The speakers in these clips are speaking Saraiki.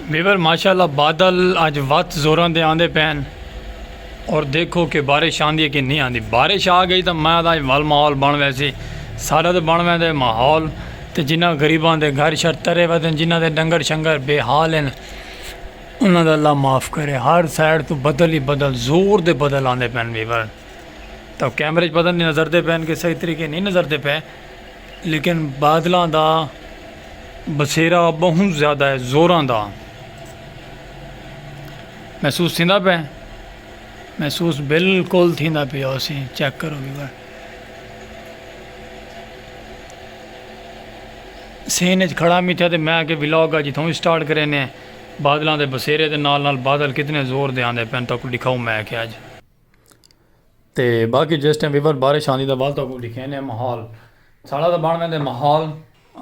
ویور ماشاء اللہ بادل اج وت زوراں دے آندے پہن اور دیکھو کہ بارش آندی ہے کہ نہیں آندی بارش آ گئی تو میں دا ول ماحول بن ویسی سارا تو بن ویندے ماحول تے جنہ غریباں دے گھر شر ترے ودن جنہ دے ڈنگر شنگر بے حال ہیں انہاں دا اللہ معاف کرے ہر سائڈ تو بدل ہی بدل زور دے بدل آندے پہن ویور تو کیمرے پتہ نہیں نظر دے پہن کہ صحیح طریقے نہیں نظر دے پہن لیکن بادلاں دا بسیرا بہوں زیادہ ہے زوراں دا محسوس تھیندا پہ محسوس بالکل تھیندا پیا اسی چیک کرو بھی بھائی سین اچ کھڑا میٹھا تے میں کہ ولاگ اج تھوں سٹارٹ کرے نے بادلاں دے بسیرے دے نال نال بادل کتنے زور دے آندے پین تو کو دکھاؤں میں کہ اج تے باقی جس ٹائم ویور بارش آندی تاں ول تہاکوں ڈکھیندے ماحول ساڑا تاں بن ویندے ماحول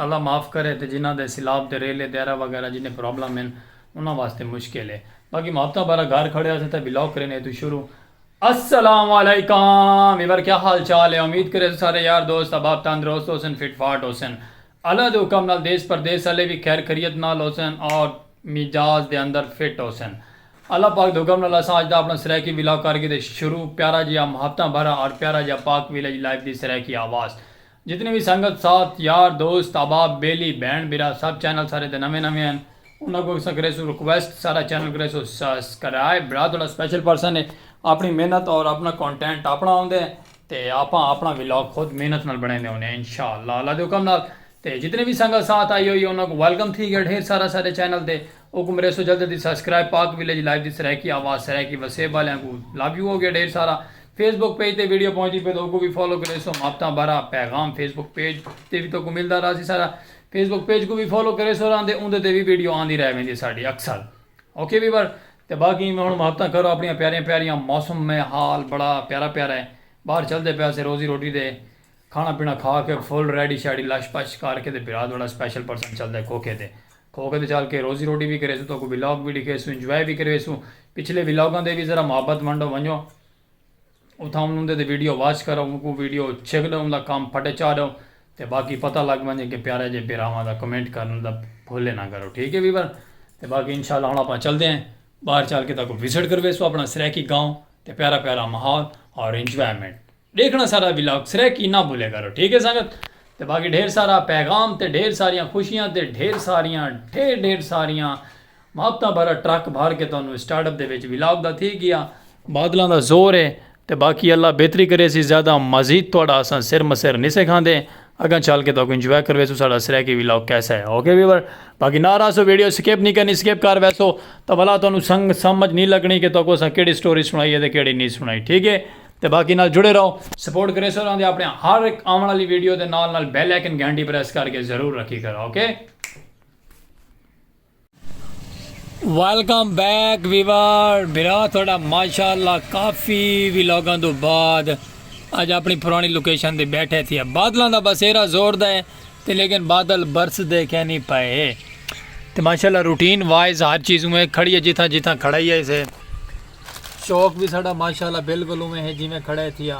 اللہ معاف کرے تے جنہاں دے سیلاب تے ریلے دیرہ وغیرہ جنہیں پرابلم ہن انہاں واسطے مشکل ہے باقی محبتاں بھرا گھر کھڑے اسیں تاں ولاگ کریندے اتھوں شروع۔ السلام علیکم ویور کیا حال چال ہے امید کریسوں سارے یار دوست احباب تندرست ہوسن فٹ فاٹ ہوسن اللہ دے حکم نال دیس پردیس آلے وی خیر خریت نال ہوسن اور مجاز دے اندر فٹ ہوسن۔ اللہ پاک دے حکم نال اساں اج دا اپنا سرائیکی ولاگ کر گھدے شروع، پیارا جیہا محبتاں بھرا اور پیارا جیہا پاک ویلیج لائف دی سرائیکی آواز۔ جتنی وی سنگت ساتھ، یار دوست، احباب، بیلی، بھین بھرا سب چینل سارے تے نویں نویں ہن انہاں کوں اساں کریسوں ریکویسٹ سارا چینل کریسوں سسکرائب بھرا تہاڈا سپیشل پرسن ہے اپنی محنت اور اپنا کونٹینٹ اپنا ہوندے تے آپاں آپنڑاں ولاگ خود محنت نال بنڑیندے ہوندے ہیں انشاء اللہ اللہ دے حکم نال تے جتنے وی سنگت ساتھ آئی ہوئی ہے انہاں کوں ویلکم تھی گیا ڈھیر سارا سارے چینل تے اوکوں مریسو جلد جلدی سبسکرائب پاک ویلیج لائیو دی سرائیکی آواز سرائیکی وسیب والیاں کوں لو یو ہو گیا ڈھیر سارا فیس بک پیج تے ویڈیو پہنچ دی پے تو اوکوں وی فالو کریسو ماپتاں بارا پیغام فیس بک پیج تے وی تو کو ملدا راسی سارا فیس بک پیج کوں وی فالو کریسو راندے اوندے تے وی ویڈیو آندی رہ ویندی ساڈی اکثر اوکے ویور تے باقی ایویں ہن محبتاں کرو اپنیاں پیاریاں پیاریاں موسم میں حال بڑا پیارا پیارا ہے باہر چلدے پے اسے روزی روٹی تے کھانا پینا کھا کے فل ریڈی شیڈی لش پش کر کے تے بھرا تہاڈا سپیشل پرسن چلدے کھوکھے تے کھوکھے تے چل کے روزی روٹی وی کریسوں تہاکوں ولاگ وی ڈیکھیسوں انجوائے وی کرویسوں پچھلے ولاگاں دے وی ذرا محبت ونڈو ونجو۔ اتھاں انہوں دے تے ویڈیو واچ کرو انکوں ویڈیو چھک ڈوں دا کم پھٹے چا ڈوں تے باقی پتہ لگ ونجے کے پیارے جے بھراواں دا کمنٹ کرن دا بھولے نہ کرو ٹھیک ہے ویور تے باقی انشاءاللہ ہن اپاں چلدے ہیں باہر چل کے تاکو وزٹ کروے سو اپنا سرائیکی گاؤں تے پیارا پیارا ماحول اور انجوائمنٹ دیکھنا سارا ولاگ سرائیکی نہ بھولے کرو ٹھیک ہے سنگت تے باقی ڈھیر سارا پیغام تے ڈھیر ساریاں خوشیاں تے ڈھیر ساریاں ڈھیر ڈھیر ساریاں مابتا بھرا ٹرک بھر کے تہانوں اسٹارٹ اپ دے وچ ولاگ دا تھی گیا۔ بادلاں دا زور ہے تے باقی اللہ بہتری کریسی زیادہ مزید تہاڈا اساں سر مسر نیسے کھاندے اگاں چل کے تہاکوں انجوائے کرویسوں ساڈا سرائیکی ولاگ کیسا ہے اوکے ویور باقی نہ رہسو ویڈیو سکپ نی کرنی سکپ کر ویسو تاں ولا تہانوں سنگ سمجھ نی لگنی کہ تہاکوں اساں کیڑی سٹوری سنائی ہے تے کیڑی نی سنائی ٹھیک ہے تے باقی نال جڑے رہو سپورٹ کریسو راہندے اپنے ہر ہک آون آلی ویڈیو دے نال نال بیل آئیکن گھنٹی پریس کر کے ضرور رکھی کرو اوکے۔ ویلکم بیک ویور برا تھوڑا ماشاءاللہ کافی ویلوگاں دو بعد اج اپنی پرانی لوکیشن دے بیٹھے تھیا بادلاں دا بسیرا زور دا ہے تے لیکن بادل برس دے کہیں نہیں پائے تے ماشاءاللہ روٹین وائز ہر چیز میں کھڑی ہے جتھاں جتھاں کھڑا ہی ہے اسے شوق بھی ساڑا ماشاءاللہ بالکل میں ہے جی میں کھڑا ہے تھیا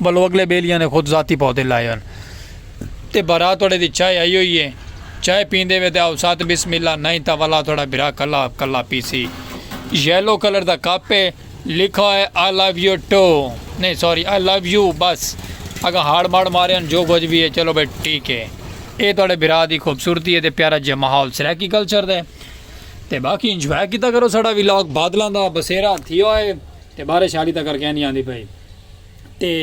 ولوں اگلے بیلیاں نے خود ذاتی پودے لائے ہن تے بھرا توڑے دی چائے آئی ہوئی ہے چائے پیندے وے تے آؤ ساتھ بسم اللہ نائیں تاں ولا توڑا بھرا کلا کلا پیسی یلو کلر دا کپ ہے لکھا ہوئے آئی لو یو ٹو نہیں سوری آئی لو یو بس اگا ہاڑ ماڑ مارے ہن جو کچھ بھی ہے چلو بھائی ٹھیک ہے اے توڑے بھرا دی خوبصورتی ہے تے پیارا جے ماحول سرائیکی کلچر دے تے باقی انجوائے کیتا کرو ساڑا ویلاگ بادلاں دا بسیرا تھی ہوئے تے بارش حالی تک کر کے نہیں آندی پئی تے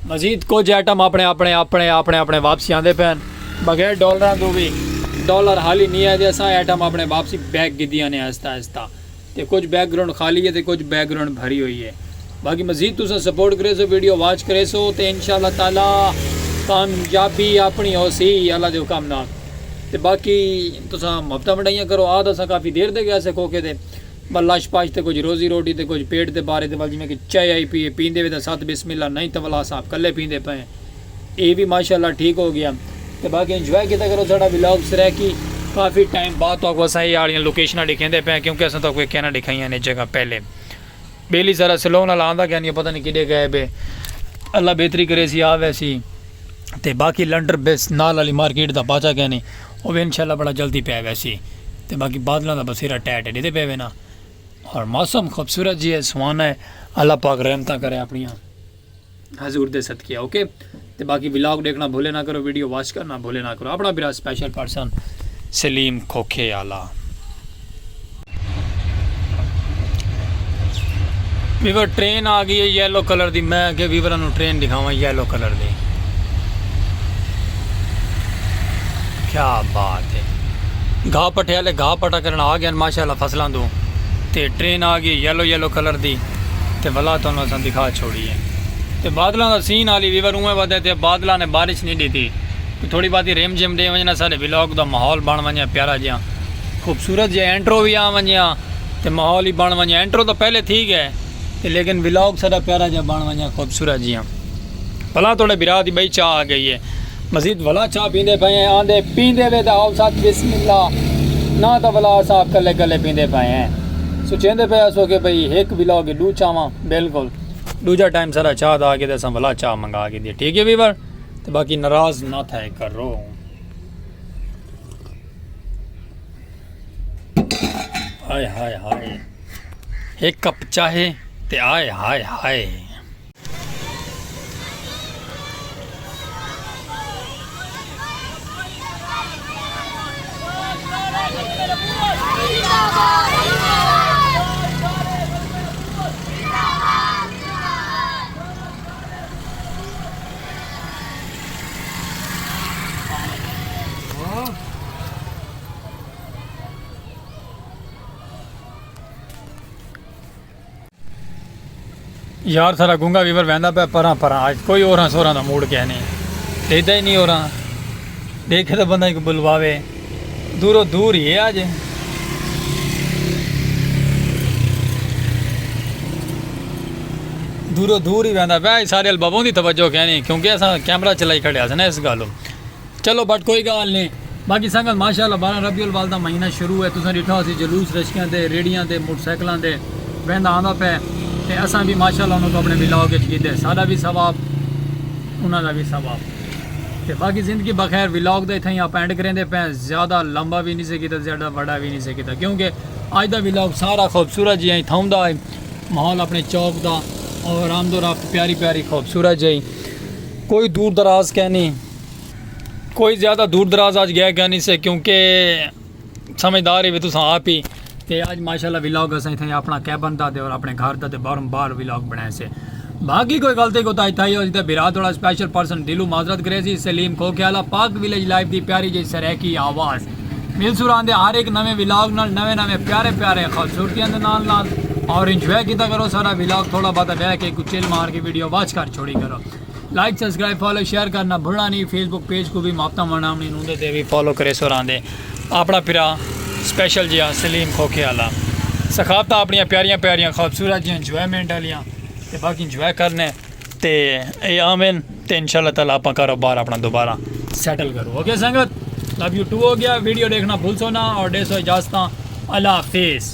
مزید کچھ آئٹم اپنے اپنے اپنے اپنے اپنے واپسی آندے پین بغیر ڈالراں دو بھی ڈالر حالی نہیں آئے دے اساں آئٹم اپنے واپسی بیک کی دیاں نے آہستہ آہستہ تے کچھ بیک گراؤنڈ خالی ہے تے کچھ بیک گراؤنڈ بھری ہوئی ہے باقی مزید تساں سپورٹ کرے سو ویڈیو واچ کرے سو تے انشاءاللہ تعالی کامیابی اپنی ہو سی اللہ دے حکم نال تے باقی تساں محبتہ منڈائیاں کرو آدھا سا کافی دیر دے گیا سے کھوکے دے ٻا لش پش تے کجھ روزی روٹی تے کجھ پیٹ دے بارے دے ول جیویں کہ چائے آئی پیئے پیندے وے تاں ست بسم اللہ نئیں تولا صاحب کلے پیندے پئے ہیں اے وی ماشاءاللہ ٹھیک ہو گیا تے باقی انجوائے کیتا کرو ساڈا ولاگ سرائیکی کافی ٹائم بعد تہاکوں اساں اے آلیاں لوکیشناں ڈکھیندے پئے ہیں کیونکہ اساں تہاکوں اے کینا ڈکھائیاں نے جگہ پہلے بیلی سارا سلون آلا آندا کینی پتہ نئیں کڈے گئے بے اللہ بہتری کریسی آ ویسی تے باقی لنڈر بس نال آلی مارکیٹ دا پاچا کینی۔ او وی انشاءاللہ بڑا جلدی پے ویسی تے باقی بادلاں دا بسیرا ٹے ٹے ڈیدے پے وینا ہور موسم خوبصورت جی ہے سہانا ہے اللہ پاک رحمتاں کرے اپنیاں حضور دے صدقے اوکے تے باقی ولاگ ڈیکھنا بھولے نہ کرو ویڈیو واچ کرنا بھولے نہ کرو اپنا برا سپیشل پرسن سلیم کھوکھے آلا ویور ٹرین آ گئی ہے یلو کلر دی میں کہ ویور انہوں ٹرین دکھاواں یلو کلر دی کیا بات ہے گھا پٹھے والے گھا پٹا کرنا آ گیا ماشاءاللہ فصلاں دو تے ٹرین آ گئی یلو یلو کلر دی تے بلا تو انہوں نے دکھا چھوڑی ہے تے بادلاں دا سین آلی ویور اوہ ودے تے بادلاں نے بارش نہیں دیتی تھوڑی باتی ریم جیم دے ونجنا سارے ویلوگ دا ماحول بن ونجنا پیارا جیاں خوبصورت جیہا انٹرو وی آ ونجے ہاں تے ماحول وی بن ونجے انٹرو تاں پہلے تھی گئے تے لیکن ولاگ ساڈا پیارا جیہا بن ونجے خوبصورت جیہا بھلا توڑے بھرا دی بئی چاہ آ گئی ہے مزید بھلا چاہ پیندے پئے ہیں آندے پیندے وے تے آؤ ساتھ بسم اللہ نہ تاں بھلا صاحب کلے کلے پیندے پئے ہیں سوچیندے پئے اسو کہ بھئی ہک ولاگ ڈو چاواں بالکل دوجا ٹائم ساڈا چاہ دا آ گیا تے اساں بھلا چاہ منگا گئے دی ٹھیک ہے ویور تے باقی ناراض نہ تھے کرو ہائے ہائے ہائے ایک کپ چاہے تے آئے ہائے ہائے یار سارا گونگا ویور ویندا پیا پراں پراں اج کوئی اوراں سوراں دا موڈ کہنی ڈیدا ہی نہیں اوراں ڈیکھے تاں بندہ ایکوں بلواوے دورو دور ہی ہے آج دورو دور ہی ویندا پیا سارے البابوں دی توجہ کہنی کیونکہ اساں کیمرہ چلائی کھڑے ہسن اس گالو چلو بٹ کوئی گال نہیں باقی سنگت ماشاءاللہ بارہ ربیع الوالدہ مہینہ شروع ہے تساں ڈٹھا سی جلوس رشکیاں دے ریڑیاں دے موٹر سائیکلاں دے ویندا آندا پے تے اساں بھی ماشاءاللہ انہاں کو اپنے ولاگ وچ کیتے ساڈا بھی ثواب انہاں دا بھی ثواب تے باقی زندگی بخیر ولاگ دا اتھاں ہی آپ اینڈ کریندے پئے زیادہ لمبا وی نی سے کیتا زیادہ وڈا وی نی سے کیتا کیونکہ اج دا ولاگ سارا خوبصورت جیاں تھاؤں دا ہے ماحول اپنے چوک دا اور آمد و رفت پیاری پیاری خوبصورت جی کوئی دور دراز کہنی کوئی زیادہ دور دراز آج گیا کہنی سے کیونکہ سمجھدار ہیوے تساں آپ ہی تے اج ماشاءاللہ ولاگ اساں اتھاں اپنا کیبن دا تے اور اپنے گھر دا تے باہروں باہر ولاگ بنائے سے باقی کوئی غلطی کو تائی تھائی ہوئی تے بھرا تھوڑا سپیشل پرسن دلو معذرت کرے سی سلیم کھو کھیالا پاک ویلیج لائف دی پیاری جی سریکی آواز مل سوران دے ہر ایک نویں ولاگ نال نویں نویں پیارے پیارے خوبصورتیاں دے نال نال اور انجوائے کیتا کرو سارا ولاگ تھوڑا بہت بیٹھ کے کوئی چل مار کے ویڈیو واچ کر چھوڑی کرو لائک سبسکرائب فالو شیئر کرنا بھلنا نہیں فیس بک پیج کو بھی ماپتا مانا ہم نے نوندے تے بھی فالو کرے سو راندے اپنا پھرا سپیشل جیا سلیم کھوکھے والا سخافتہ اپنی پیاریاں پیاریاں خوبصورت جی انجوائمنٹ والیاں تے باقی انجوائے کرنے تے اے آمین تے انشاءاللہ تعالی اپنا کاروبار اپنا دوبارہ سیٹل کرو اوکے سنگت لو یو ٹو ہو گیا ویڈیو دیکھنا بھول سونا اور ڈے سو اجازت اللہ حافظ